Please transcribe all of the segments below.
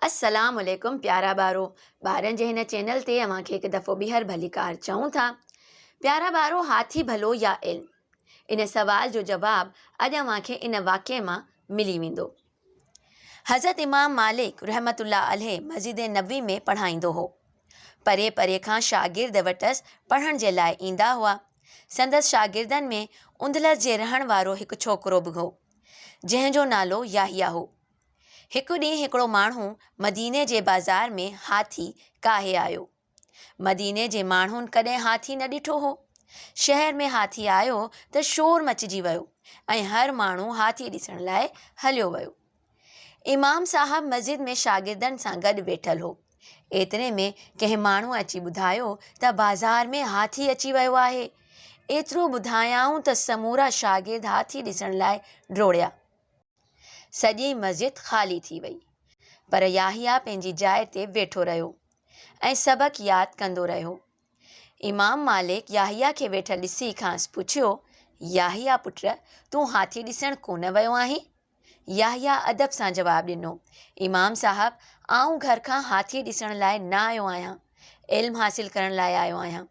السلام عليڪم پيارا ٻارو ٻارن جي هن چينل تي اوهان کي هڪ دفعو ٻيهر ڀليڪار چئون ٿا پيارا ٻارو هاٿي ڀلو يا علم ان سوال جو جواب اڄ اوهان کي ان واقعي مان ملي ويندو حضرت امام مالڪ رحمة الله عليه مسجد نبوي ۾ پڙهائيندو هو. پري پري کان شاگرد وٽس پڙهڻ جي لاء ايندا هئا. سندس شاگردن ۾ اندلس جي رهڻ وارو هڪ ڇوڪرو به هو، جنهن جو نالو يحيٰ هو. هڪ ڏينهن هڪڙو ماڻهو مديني جي بازار ۾ هاٿي ڪاهي آيو. مديني جي ماڻهن ڪڏهن هاٿي نه ڏٺو هو. شهر ۾ هاٿي آيو ته شور مچجي ويو ۽ هر ماڻهو هاٿي ڏسڻ لاء هليو ويو. امام صاحب مسجد ۾ شاگردن سان گڏ ويٺل هو. ايتري ۾ ڪنهن ماڻهو اچي ٻڌايو ته بازار ۾ هاٿي اچي ويو آهي. ايترو ٻڌايائون ته سمورا شاگرد هاٿي ڏسڻ لاء ڊوڙيا. سڄي مسجد خالي ٿي وئي، پر يحيٰ پنهنجي جاء تي ويٺو رهيو ۽ سبق ياد ڪندو رهيو. امام مالڪ يحيٰ کي ويٺل ڏسي کانئس پڇيو، يحيٰ پٽ، تون هاٿي ڏسڻ ڪونه ويو آهين؟ يحيٰ ادب سان جواب ڏنو، امام صاحب، آئون گهر کان هاٿي ڏسڻ لاء نه آيو آهيان، علم حاصل ڪرڻ لاء آيو آهيان.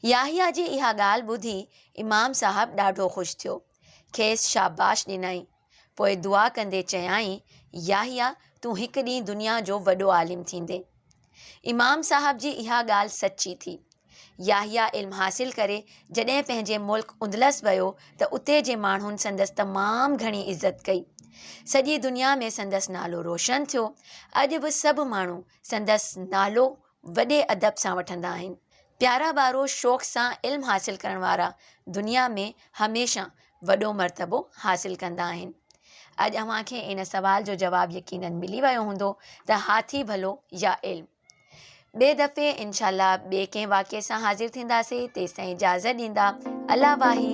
يحيٰ جي اها ڳالهه ٻڌي امام صاحب ڏاڍو خوش ٿيو، کيس شاباش ڏنائين، پوء دعا ڪندي چيائين، يحيٰ تون هڪ ڏينهن دنيا جو وڏو عالم ٿيندين. امام صاحب جي اها ڳالهه سچي ٿي. يحيٰ علم حاصل ڪري جڏهن پنهنجي ملڪ اندلس ويو ته اتي جي ماڻهن سندس تمام گهڻي عزت ڪئي. سڄي دنيا ۾ سندس نالو روشن ٿيو. اڄ به سڀ ماڻهو سندس نالو وڏي ادب سان وٺندا آهن. پيارا ٻارو شوق سان علم حاصل ڪرڻ وارا دنيا ۾ هميشه وڏو مرتبو حاصل ڪندا آهن. اڄ اوهان کي ان سوال جو جواب يقينن ملي ويو هوندو ته هاٿي ڀلو يا علم؟ ٻئي دفعي انشاء الله ٻئي ڪنهن واقعي سان حاضر ٿينداسي تيستائين اجازت ڏيندا الله واهي.